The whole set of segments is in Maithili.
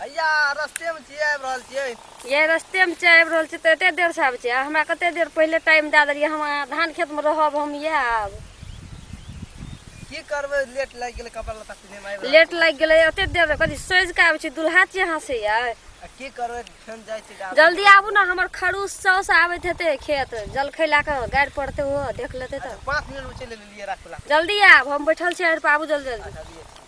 हैया रस्तेमे छियै आबि रहल छियै ये रस्ते में छै आबि रहल छी तऽ एते देर से आबै छै आ हमरा कते देर पहिले टाइम दए देलियै हम अहाँ धान खेत में रहब हम इएह आब की करबै लेट लागि गेलै कपड़ा लत्ता पिन्हैमे आबि रहल लेट लागि गेलै एते देर कथी सोझि कऽ आबै छी दुल्हा छियै अहाँ से यै छियै। आ की करबै फेन जाइ छी गाड़ी जल्दी आबू ने हमर खरूस साउस आबैत हेतै खेत जलखै लए कऽ गाड़ि पड़तै ओहो देख लेतै तऽ पाँच मिनटमे चलि एलियै राखू राखू जल्दी आब हम बैठल छी आड़ि पर आबू जल्दी जल्दी अच्छा, लिअ।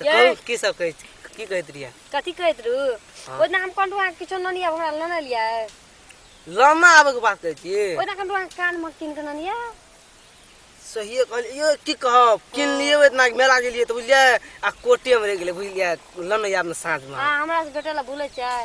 तऽ यै। कहू की सब कहै छी की कहैत रहियै कथी कहैत रहू हँ। ओहि दिन हम कहलहुँ अहाँके किछो ननी आब हमरा लेने लियै लामा आबैके बात कहै छी ओहि दिन कहलहुँ अहाँके कान मग कीन कऽ ननी यऽ सहिए कहलियै यौ की कहब किनलियै ओहि दिना मेला गेलियै तऽ बुझलियै आ कोटेमे रहि गेलै बुझलियै लनै आब ने साँझमे अहाँ हमरा से भेटै लए भूलै छियै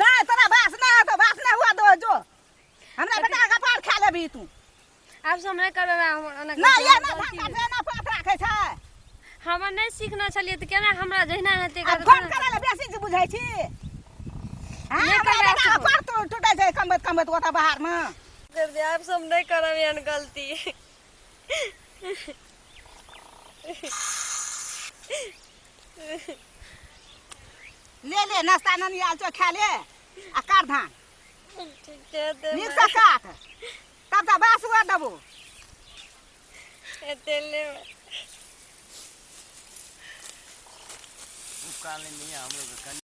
नहि तोरा बास नहि हेतौ बास नहि हुआ दो जो हमरा बेटा का पार खा लेबी तू आब से हमरा करबे हमरा नहि ये ना धाका देना पात राखे छै हम नहि सीखना छलिए त केना हमरा जहिना हेते कर फोन करे ले बेसी जे बुझै छी हां हमरा बेटा पार टूटै छै कमबत कमबत ओता बाहर में कर दे आब से हम नहि करब एहन गलती ले ले नाश्ता ननी आयल छौ खा ले आ काट धान ठीके दे नीक से काट तब तऽ बास हुआ देबो एते ले काल नहीं है हम लोग